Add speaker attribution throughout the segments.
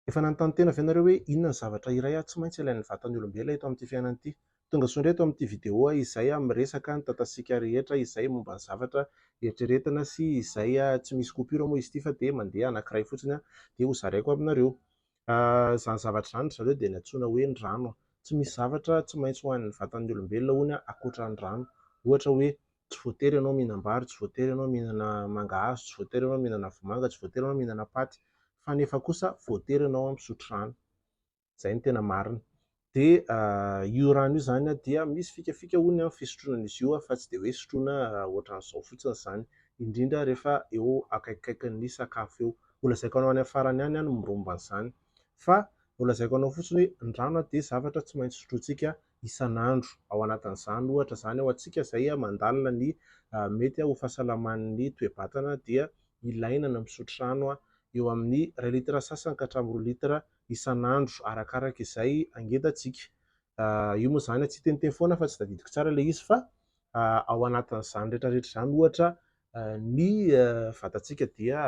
Speaker 1: Efa nanontany tena ve ianareo hoe inona ny zavatra iray aho tsy maintsy ilain'ny vatan'ny olombelona eto amin'ity fiainana ity? Tonga soa indray eto amin'ity video aho izay miresaka ny tatasiaka rehetra izay momba ny zavatra eritreretina sy izay tsy misy coupure moa izy ity fa dia mandeha anankiray fotsiny dia ho zaraiko aminareo. Izany zavatra izany ry zareo dia nantsoina hoe ny rano. Tsy misy zavatra tsy maintsy ho an'ny vatan'ny olombelona hono ankoatra ny rano. Ohatra hoe Tsy voatery ianao mihinam-bary, tsy voatery ianao mihinana mangahazo, tsy voatery ianao mihinana vomanga, tsy voatery ianao mihinana paty, fa nefa kosa voatery ianao misotro rano. Izay no tena marina. Dia io rano io izany dia misy fikafika hono ny fisotroana an'izy io fa tsy dia hoe sotroina ohatran'izao fotsiny izany, indrindra rehefa eo akaikikaikin'ny sakafo eo. Holazaiko anao any amin'ny farany any ny momba an'izany. Fa holazaiko anao fotsiny hoe ny rano dia zavatra tsy maintsy sotrointsika isan'andro. Ao anatin'izany ohatra izany ho antsika izay mandalina ny mety ho fahasalaman'ny toe-batana dia ilaina ny misotro rano eo amin'ny iray litatra sasany ka hatramin'ny roa litatra isan'andro arakaraka izay angentantsika. Io moa izany tsiteniteny foana fa tsy tadidiko tsara ilay izy fa ao anatin'izany rehetrarehetra izany ohatra ny vatantsika dia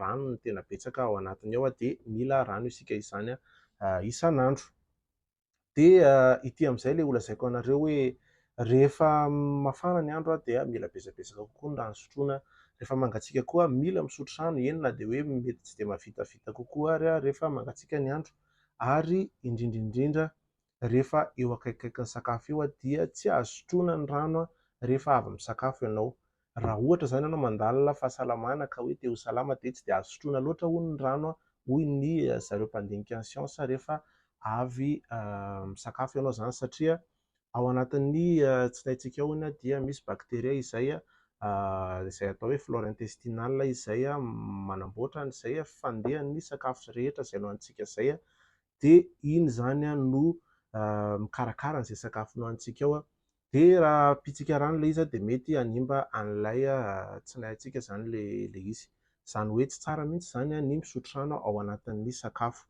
Speaker 1: rano no tena betsaka ao anatiny ao dia mila rano isika izany isan'andro. Dia ity amin'izay ilay holazaiko anareo hoe rehefa mafana ny andro dia mila betsabetsaka kokoa ny rano sotroina, rehefa mangatsiaka koa mila misotro rano, eny na dia hoe mety tsy dia mavitavita kokoa ary rehefa mangatsiaka ny andro, ary indrindra indrindra rehefa eo akaikikaikin'ny sakafo eo dia tsy azo sotroina ny rano rehefa avy misakafo ianao. Raha ohatra izany ianao mandalina fahasalamana ka hoe te ho salama dia tsy dia azo sotroina loatra hono ny rano hoy ny zareo mpandinika ny siansa rehefa avy misakafo ianao izany satria ao anatin'ny tsinaintsika ao dia misy bacteria izay izay atao hoe flore intestinale izay manamboatra an'izay fandehan'ny sakafo rehetra izay nohanintsika izay dia iny izany no mikarakara an'izay sakafo nohanintsika ao Dia raha pitsika rano ilay izy dia mety hanimba an'ilay tsinahintsika izany ilay izy. Izany hoe tsy tsara mihitsy izany ny misotro rano ao anatin'ny sakafo.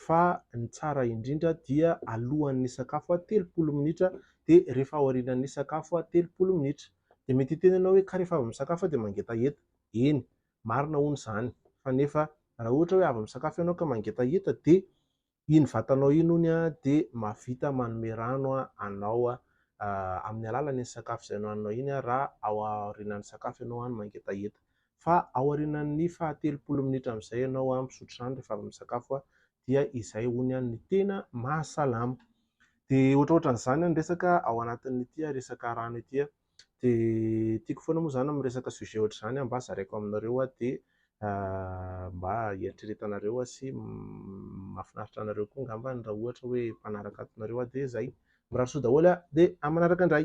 Speaker 1: Fa ny tsara indrindra dia alohan'ny sakafo telopolo minitra dia rehefa aorianan'ny sakafo telopolo minitra. Dia mety hiteny ianao hoe ka rehefa avy misakafo aho dia mangetaheta. Eny, marina hono izany, fa nefa raha ohatra hoe avy misakafo ianao ka mangetaheta dia Iny vatanao iny hono dia mahavita manome rano anao amin'ny alalan'iny sakafo izay nohaninao iny raha ao aorianan'ny sakafo ianao no mangetaheta. Fa ao aorianan'ny fahatelopolo minitra amin'izay ianao misotro rano rehefa avy misakafo dia izay hono no tena mahasalama. Dia ohatrohatran'izany ny resaka ao anatin'ity resaka rano ity. Dia tiako foana moa izany miresaka sujet ohatr'izany mba zaraiko aminareo aho dia mba hieritreretanareo aho sy mahafinaritra anareo koa angambany raha ohatra hoe mpanaraka ato nareo aho dia izay. Mirary soa daholo aho dia amin'ny manaraka indray.